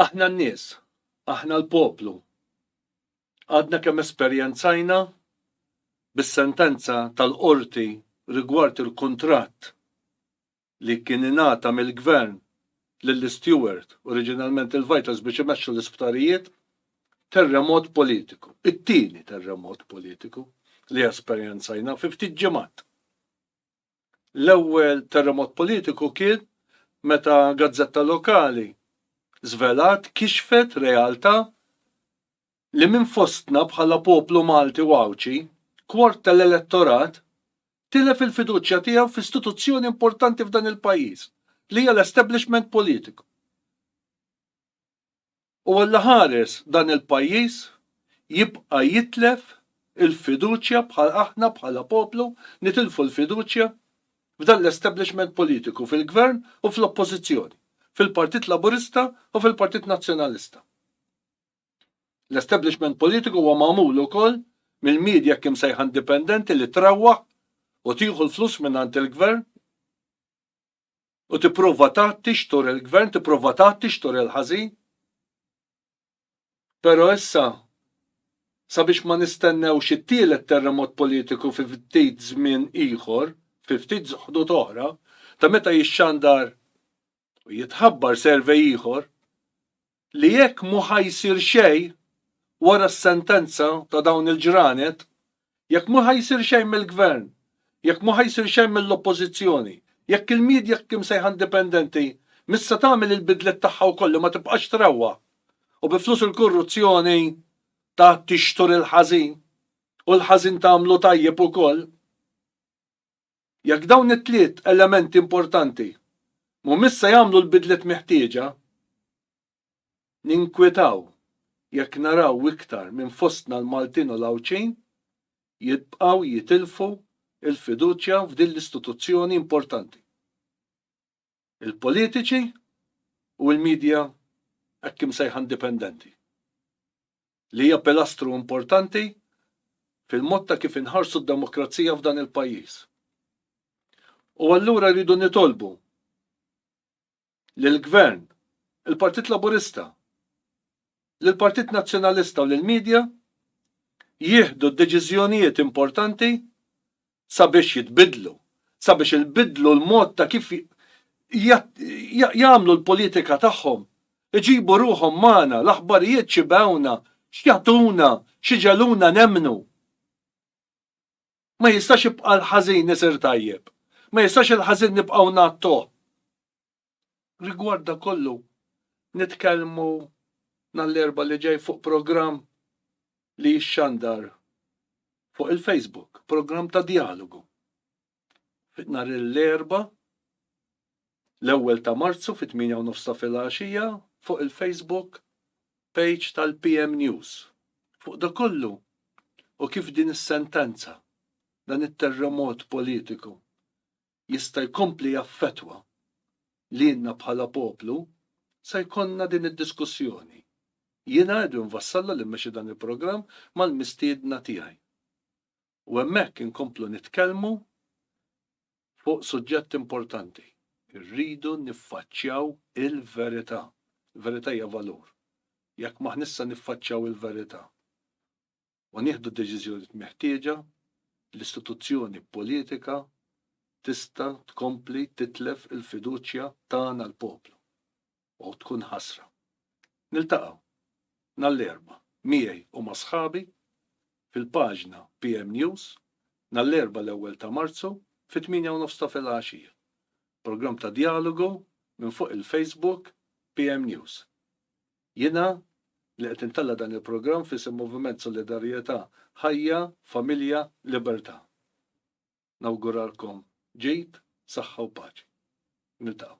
Aħna n-nies, aħna l-poplu, għadna kemm esperjenzajna bis-sentenza tal-Qorti rigward il-kuntratt li kien ingħata mill-Gvern lil Steward, oriġinalment il-Vitals biex imexxu l-isptarijiet, terremot politiku, it-tieni terremot politiku li esperjenzajna fi ftit ġimgħat. L-ewwel terremot politiku kien meta gazzetta lokali żvelat, kixfet realtà li minn fostna bħala poplu Malti u Għawdxi, kwart tal-elettorat tilef il-fiduċja tiegħu f'istituzzjoni importanti f'dan il-pajjiż, li hija l-establishment politiku. u Alla ħares dan il-pajjiż jibqa' jitlef il-fiduċja bħal aħna bħala poplu nitilfu l-fiduċja f'dan l-establishment politiku fil-Gvern u fl-Oppożizzjoni, fil-Partit Laburista u fil-Partit Nazzjonalista. L-establishment politiku huwa magħmul ukoll mill-media hekk imsejħa indipendenti li trawwaħ u tieħu l-flus mingħand il-Gvern. u tipprova tgħatti x'tur il-Gvern, tipprova tgħatti x'tur il-ħażin. Però issa sabiex ma nistennewx it-tielet terremot politiku fi ftit żmien ieħor, fi ftit ħdud oħra, ta' meta jixxandar u jitħabbar servej ieħor, li jekk mhu ħa jsir xejn wara s-sentenza ta' dawn il-ġranet, jekk mhu ħa jsir xejn mill-Gvern, jekk mhu ħa jsir xejn mill-Oppożizzjoni, jekk il-media imsejħa indipendenti mhix se tagħmel il-bidliet tagħha wkoll li ma tibqax trewwa u bi flus il-kurruzzjoni ta' tixtur il-ħażin u l-ħażin tagħmlu tajjeb ukoll. Jekk dawn it-tliet elementi importanti mhumiex se jagħmlu l-bidliet meħtieġa, ninkwetaw jekk naraw iktar minn fostna l-Maltin u l-Għawdxin jibqgħu jitilfu l-fiduċja f'din l-istituzzjoni importanti. il-politiċi u l-midja hekk imsejħa indipendenti, li hija pilastru importanti fil-mod ta' kif inħarsu d-demokrazija f'dan il-pajjiż. U allura rridu nitolbu lill-Gvern, il-Partit Laburista, lill-Partit Nazzjonalista u lill-media jieħdu d-deċiżjonijiet importanti sabiex jitbiddlu, sabiex ilbiddlu l-mod ta' kif jagħmlu l-politika tagħhom, iġibu ruħhom magħna, l-aħbarijiet x'ibewna, x'jagħtuna, x'iġegħluna nemmnu. Ma jistax jibqa' l-ħażin isir tajjeb. Ma jistax il-ħażin nibqgħu ngħattuh. Rigward dan kollu, nitkellmu nhar l-Erbgħa li ġej fuq programm li jixxandar fuq il-Facebook, programm ta' djalogu. Nhar l-Erbgħa l-ewwel ta' Marzu fit-8 u nofs ta' filgħaxija fuq il-Facebook page tal-PM News. Fuq da kollu u kif din is-sentenza dan it-terremot politiku jista' jkompli jaffettwa lilna bħala poplu, se jkollna din id-diskussjoni. Jiena Edwin Vassalla li mmexxi dan il-programm mal-mistiedna tiegħi. U hemmhekk inkomplu nitkellmu fuq suġġett importanti. Irridu niffaċċjaw il-verità. Il-verità hija valur. Jekk m'aħniex se niffaċċjaw il-verità, u nieħdu d-deċiżjonijiet meħtieġa, l-istituzzjoni politika tista' tkompli titlef il-fiduċja tagħna l-poplu u tkun ħasra. Niltaqgħu nhar l-Erbgħa miegħi u ma' sħabi fil-paġna PM News nhar l-Erbgħa l-ewwel ta' Marzu fit-tmienja u nofs ta' filgħaxija. Programm ta' djalogu minn fuq il-Facebook PM News. Jiena, li qed intella' dan il-programm f'isem Moviment Solidarjetà Ħajja, Familja, Libertà, nawguralkom ġid, saħħa u paċi. Niltaqgħu.